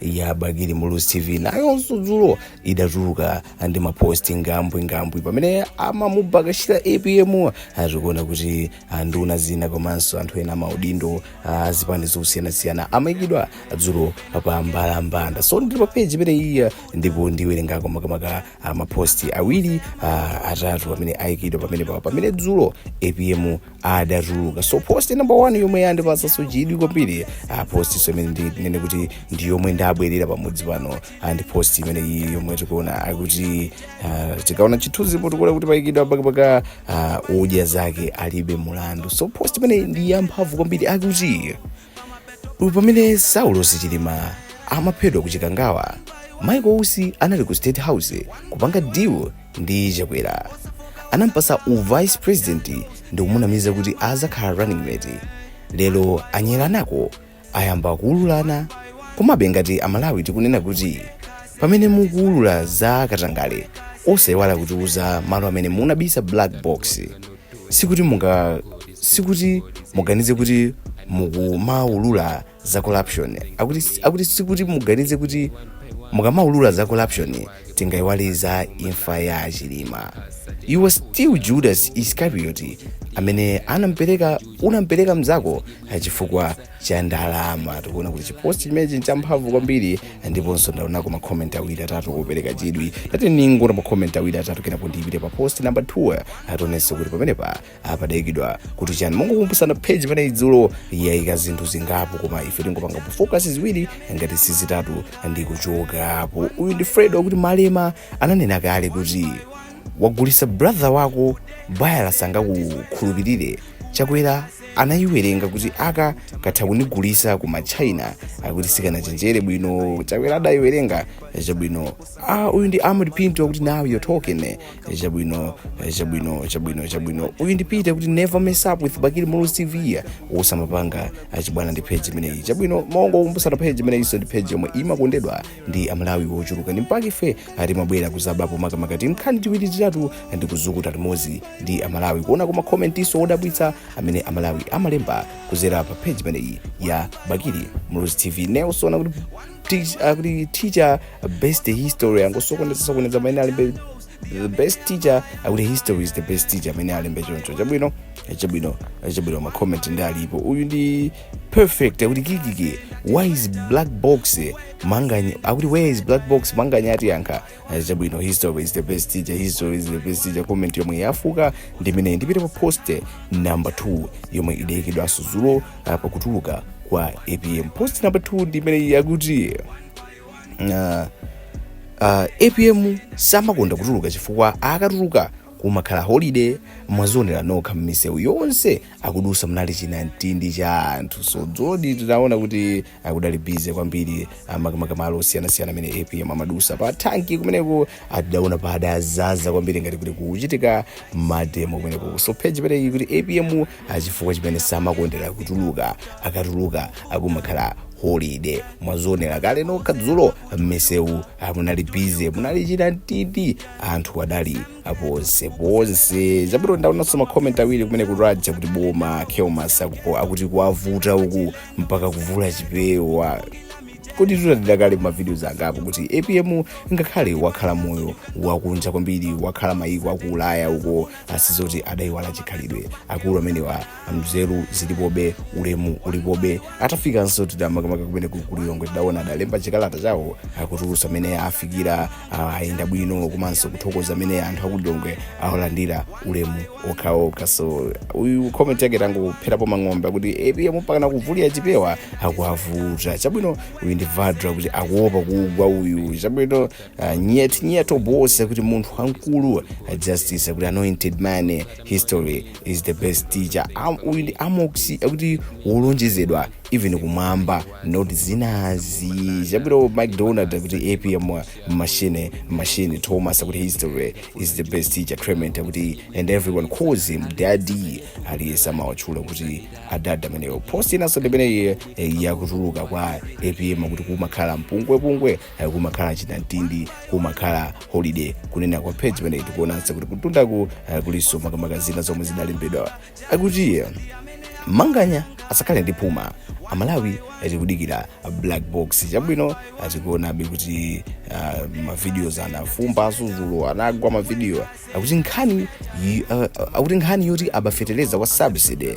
ya bakili muluzi tv nayonso dzulo idatulutsa ndi maposti ngambwingambwi pamene amamubakashira apm atikuona kuti anduna zina komanso anthu ena maudindo a zipani zosiyanasiyana amayikidwa dzulo pa mbalambanda so ndili pa peji imeneyiya ndipo ndiwerengako makamaka uh, maposti awiri uh, atatu amene ayikidwa pamenepa pamene dzulo apm adatuluka so post number one yomwe yandipasaso chidwi kwambiri uh, post so imene ndinganene kuti ndi yomwe ndabwerera pamudzi pano uh, ndi post imene iyi yomwe tikuona akuti uh, tikaona chithunzi po tikuona kuti payikidwa Bakabaka uh, odya zake alibe mulandu so post imene ndi yamphamvu kwambiri akuti U- pamene saulos chilima amaphedwa ku chikangawa michael usi anali ku state house kupanga deal ndi chakwera anampasa u vice president ndi kumunamiza kuti azakhala running mate lero anyengana ko ayamba kuululana komabe ngati amalawi tikunena kuti pamene mukuulula za katangale osaiwala kutiuza malo amene munabisa black box sikuti munga sikuti muganize kuti mukamaulula za corruption akuti, akuti sikuti muganize kuti mukamaulula za corruption tingayiwale za imfa ya a chilima you are still judas iscariot amene anampereka unampereka mzako chifukwa cha ndalama tikuona kuti chiposti chimenechi nchamphamvu kwambiri ndiponso ndaonako makomenti awiri atatu opereka chidwi tati ningoona makomenti awiri atatu kenako ndipite pa posti namba 2 tionenso kuti pamenepa padaikidwa kuti chani mongokumbusana page imeneyi dzulo yayika zinthu zingapo koma ife tingopanga pofokasi ziwiri ngati sizitatu nkuchokapo uyu ndi fred akuti malema ananena kale kuti wagulisa brother wako bayala sangakukhulupirire chakwera anayiwerenga kuti aka katha kunigulisa ku machina akuti sikanachenjere bwino chakwera adayiwerenga chabwino ah, uyu ndi amod pinto akuti now you're talking eh, chabwino eh, chabwino chabwino chabwino uyu ndi peter kuti never mess up with bakili muluzi tv usamapanga zachibwana ndi page imeneyi chabwino mongokumbusana page imeneyiso ndi page yomwe imakondedwa ndi amalawi ochuluka nchake ife timabwera kuzatapa makamaka timkhani tiwiri titatu ndi kuzukuta limodzi ndi amalawi kuonako makomentiso odabwitsa amene amalawi amalemba kuzera pa page imeneyi ya bakili muluzi tv nelson akuti teach- akuti teacher best history angosokoneza sokoneza amene alembe the best teacher akuti history is the best teacher amene alembe choncho chabwino chabwino chabwino makomenti ndi alipo uyu ndi perfect akuti kikiki why is black box manganya akuti where is black box manganya atiyankhe Eh, chabwino history is the best teacher history is the best teacher comment yomwe yavuka ndi imeneyi ndipite pa post number 2 yomwe idayikidwanso zulo ah, pakutuluka kwa apm post number 2 ndi imeneyi akuti ah, uh, apm samakonda kutuluka chifukwa akatuluka kumakhala holiday mwazionera nokha m'misewu yonse akudutsa munali chinamtindi cha anthu so zoonadi tinaona kuti kudali bize kwambiri ah, makamaka malo osiyanasiyana amene apm amadutsa pa tanki kumeneko tidaona padadzaza kwambiri ngati kuti kukuchitika mademo kumeneko so page imeneyi kuti apm ah, chifukwa chimene samakondera kutuluka akatuluka kumakhala holiday mwazionera kale nokha dzulo mmisewu ah, munali bize munali chinamtindi anthu adali aponseponse zabwino ndaonanso makomenti awiri kumene kujaku akuti boma kelmas akupo akuti kuwavuta uku mpaka kuvula chipewa zoonadi tidaonera kale mavidios angapo kuti apm ngakhale wakhala moyo wakunja kwambiri wakhala mayiko aku ulaya uko sizoti adayiwala chikhalidwe akulu amenewa mzeru zilipobe ulemu ulipobe atafikanso makamaka kumeneku ku lilongwe tidaona adalemba chikalata chawo akutiuza mmene afikira ah, ayenda bwino komanso kuthokoza mmene anthu aku lilongwe awalandirira ulemu okhaokha so uyu comment yake yangopherapo mphongo akuti apm mpakana kuvulira chipewa akuavuta chabwino uyu ndi vadra kuti akuopa kugwa uyu chabwino ah, nyet nyeto bosi akuti munthu wamkulu ah, justice akuti anointed man history is the best teacher Am- uyu ndi amoxi akuti wolonjezedwa even kumwamba not zinazi chabwino mcdonald akuti apm ma machine machine thomas akuti history is the best teacher clement akuti and everyone calls him daddy aliyense amawatchula kuti adada ameneyo post inanso ndimeneyi eh, yakutuluka kwa apm akuti kumakhala mpungwepungwe eh, kumakhala chinamtindi kumakhala holiday kunena kwa page imeneyi tikuonanso kuti kutundaku eh, kulinso makamaka zina zomwe zidalembedwa akuti eh, manganya asakhale ndi phuma amalawi akudikira black box chabwino tikuonabe kuti uh, mavideos anavumba dzulo anagwa mavidiyo akuti nkhani yi- uh, uh, akuti nkhani yoti aba feteleza wa subsidy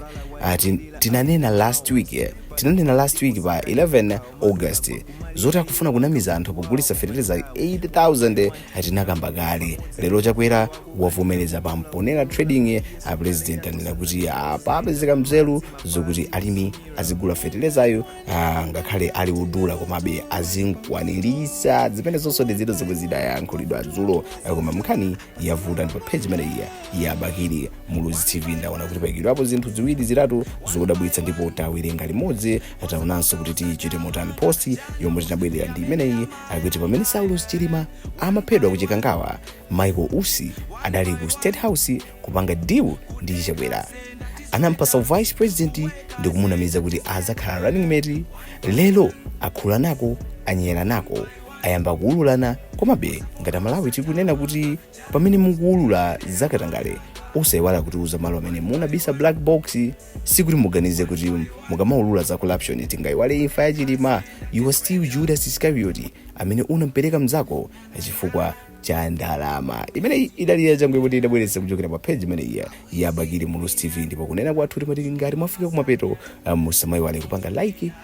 uh, tin- tinanena last week eh, tinanena last week pa 11 august zoti akufuna kunamiza anthu pogulitsa feteleza 8000 tinakamba kale lero chakwera wavomereza pa mponera trading a president anena kuti papezeka mzeru zokuti alimi azigula fetelezayo ah, ngakhale ali odula komabe azikwanitsa zimenezonso ndi zina zomwe zidayankhulidwa dzulo Ah, koma mkhani yavuta ndipo page imeneyi ya bakili muluzi tv ndaona kuti paikidwapo zinthu ziwiri zitatu zodabwitsa ndipo tawerenga limodzi taonanso kuti tichite motani post yomwe tinabwerera ndi imeneyi akuti pamene saulos chilima amaphedwa ku chikangawa michael usi adali ku state house kupanga deal ndi chakwera anampasa u vice president ndi kumunamiza kuti azakhala running mate lero akhula nako anyera nako ayamba kuululana komabe ngati amalawi tikunena kuti pamene mukuulula zakatangale osayiwala kutiuza malo amene munabisa black box sikuti muganize kuti mukamaulula za corruption tingayiwale imfa ya chilima you are still judas iscariot amene unampereka mzako chifukwa cha ndalama imeneyi idali yachabe kuti idabweretsa kuchokera pa page imeneyi ya bakili muluzi tv ndipo kunena kwathu timati ngati mwafika kumapeto ah, musamayiwale kupanga like